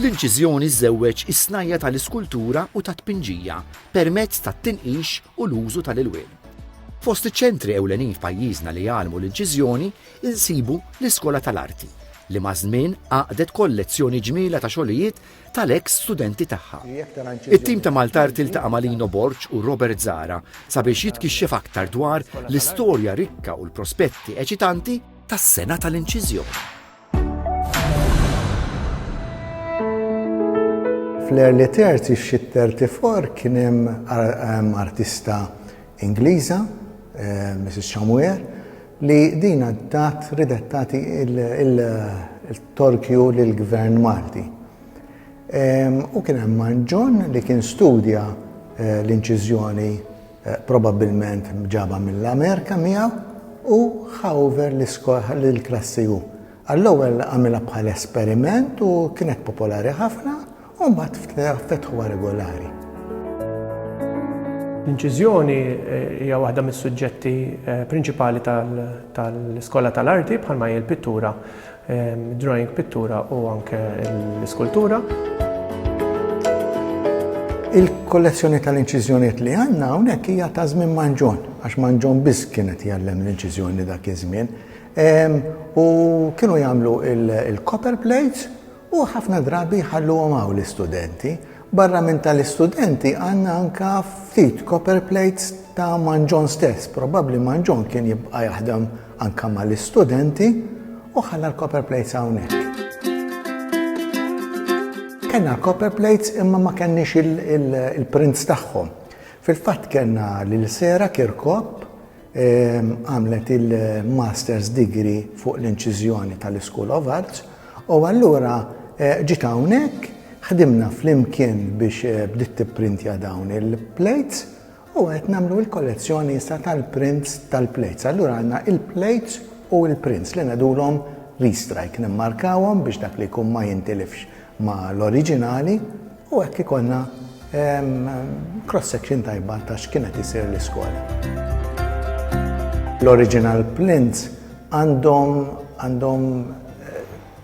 L-inċiżjoni żżewweġ is-snajja tal-iskultura u tat-tpinġija permezz tat-tinqix u l-użu tal-ilwien. Fost iċ-ċentri ewlenin f'pajjiżna li jgħallmu l-inċiżjoni insibu l-Iskola tal-Arti, li maż-żmien għaqdet kollezzjoni ġmiela ta' xogħlijiet tal-eks studenti tagħha. It-tim ta' Maltart iltaqa' ma' Lino Borg u Robert Zahra sabiex jitkixxef aktar dwar l-istorja rikka u l-prospetti eċitanti tas-sengħa tal-inċiżjoni. Fl-early thirties xi thirty four kien hemm artista Ingliża, Mrs. Chamuer, li din għaddat ridet tagħti il-torkju lill-Gvern Malti. U kien hemm Manġon li kien studja eh, l-inċiżjoni eh, probabbilment ġaba mill-Amerika miegħu u ħawver l-klassi u. Għall-ewwel għamilha bħal esperiment u kienet popolari ħafna u mbagħad f'tnejn fetħuha regolari. L-inċiżjoni hija waħda mis-suġġetti prinċipali tal-Iskola tal-Arti bħalma hi l-pittura, drawing pittura u anke l-iskultura. Il-kollezzjoni tal-inċiżjonijiet li għandna hawnhekk hija ta' żmien Manġon, għax Manġon biss kienet jgħallem l-inċiżjoni dak iż-żmien. U kienu jagħmlu il-copper plates U ħafna drabi jħalluhom hawn l-istudenti. Barra minn tal-istudenti għandna anke ftit copper plates ta' Manġon stess. Probabbli Manġon kien jibqa' jaħdem anke mal-istudenti u ħalla l-copper plates hawnhekk. Kellna l-copper plates imma ma kenniex il-prints tagħhom. Fil-fatt kellna lil Sera Kirkop Għamlet il-Master's Degree fuq l-Inċiżjoni tal-School of Arts u allura ġiet hawnhekk ħdimna flimkien biex eh, bdiet tipprintja dawn il-plates u qed nagħmlu l-kollezzjoni issa tal-prints tal-plates. Allura għandna il-plates u l-prints li ngħidulhom restrike nimmarkawhom biex dak li jkun ma jintilifx ma' l-oriġinali u hekk ikollna cross-section tajba ta' x'kienet isir l-iskola. L-original plints għandhom għandhom eh,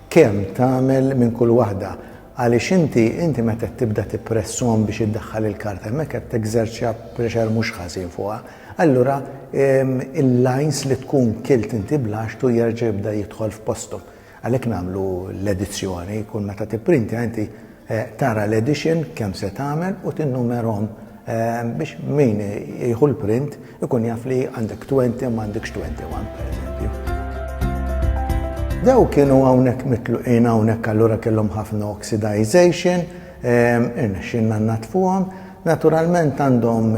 kemm tagħmel minn kull waħda għaliex inti inti meta tibda tippressom biex iddaħħal il-karta hemmhekk qed teżerċja pressure mhux ħażin fuqha. Allura il-lines li tkun kilt inti blax tu jerġa' jibda jidħol f'postom. Għalhekk nagħmlu l-edizzjoni, kull meta tipprintja inti tara l-edition kemm se tagħmel u tinnumerhom biex min jieħu l-print ikun jaf li għandek 20 ma għandekx 21 pereżempju. Daw kienu hawnhekk mitluqin hawnhekk allura kellhom ħafna oxidization, irnexxinna natfuhom, naturalment għandhom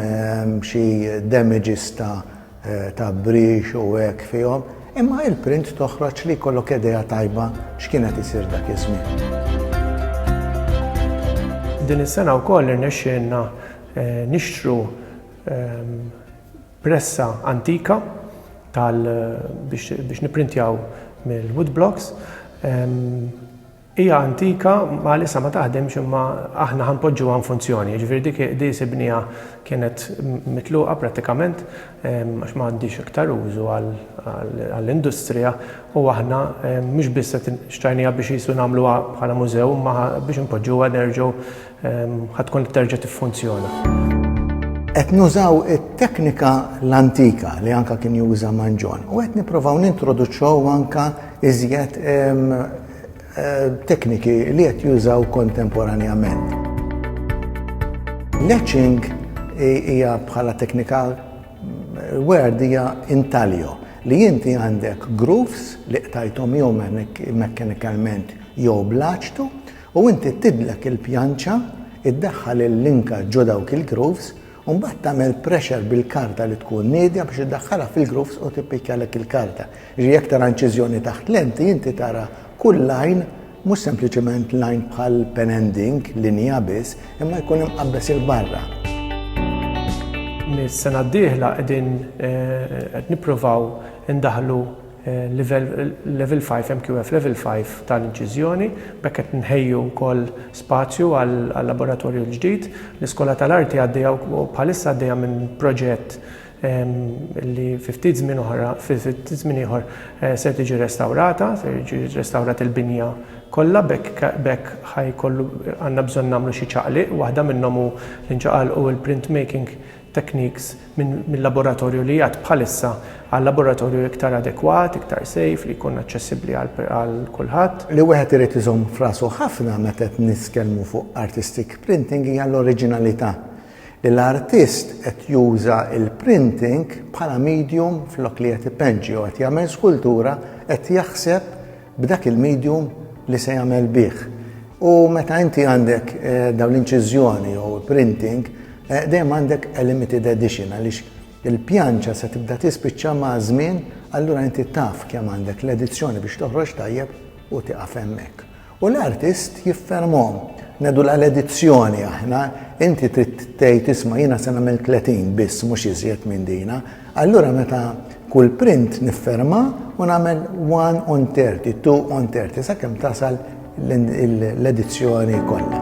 xi damages ta' tgħabbrix u hekk fihom, imma il-print toħroġ li jkollok idea tajba x'kien qed isir dak iż-żmien. Din is-sena wkoll irnexxielna nixtru pressa antika tal biex nipprintjaw mill-wood blocks. Hija antika, bħalissa ma taħdimx imma aħna ħa npoġġuha infunzjoni. Jiġifieri dik qdies ibniha kienet mitluqa prattikament għax m'għandhiex iktar użu għall-industrija u aħna mhux biss qed xtrajnieha biex qisu nagħmluha bħala mużew imma ħa biex inpoġġuha nerġgħu ħa tkun terġa' tiffunzjona. Qed nużaw it-teknika l-antika li anke kien juża Manġon u qed nipprovaw nintroduċew anke iżjed tekniki li qed jużaw kontemporanjament. L-etching hija bħala teknika word hija intaglio li inti għandek grooves li qtajthom jew mekkanikalment jew bl-aċtu u inti tidlek il-pjanċa, iddaħħal il-linka ġo dawk il-grooves u mbagħad tagħmel pressure bil-karta li tkun niedja biex iddaħħalha fil-grooves u tippikjalek il-karta. Jiġifieri jekk tara inċiżjoni taħt lenti inti tara kull line mhux sempliċement line bħal pen and ink, linja biss, imma jkun imqabbes 'il barra. Mis-sena d-dieħla qegħdin eh, qed nippruvaw indaħlu livell Level 5, MQF Level 5 ta' l-inċiżjoni. B'hekk qed nħejju wkoll spazju għal-laboratorju l-ġdid. L-Iskola ta' l-Arti għaddejja bħalissa għaddejja minn proġett li fi ftit żmien oħra, fi ftit żmien ieħor ser tiġi restawrata, ser jiġi restawrat il-binja kollha. B'hekk b'hekk ħa jkollu għandna bżonn nagħmlu xi ċaqliq. Waħda minnhom hu li nċaqalqu l-printmaking techniques minn laboratorju li jgħadd bħalissa għal laboratorju iktar adekwat, iktar safe, li jkun aċċessibbli għal kulħadd. Li wieħed irid iżomm f'rasu ħafna meta qed nitkellmu fuq artistic printing hija l-oriġinalità, li l-artist qed juża l-printing bħala medium flok li qed ipenġi jew qed jagħmel skultura qed jaħseb b'dak il-medium li se jagħmel bih. U meta inti għandek eh, dawn l-inċiżjoni jew printing, eh, dejjem għandek a limited edition għaliex il-pjanċa se tibda tispiċċa ma' żmien, allura inti taf kemm għandek l-edizzjoni biex toħroġ tajjeb u tiqaf hemmhekk. U l-artist jiffermhom nedu l-edizzjoni aħna, inti trid tgħid isma' jiena se nagħmel 30 biss mhux iżjed minn dina, Allura meta kull print nifferma u nagħmel one on thirty, two on thirty, sakemm tasal l-edizzjoni kollha.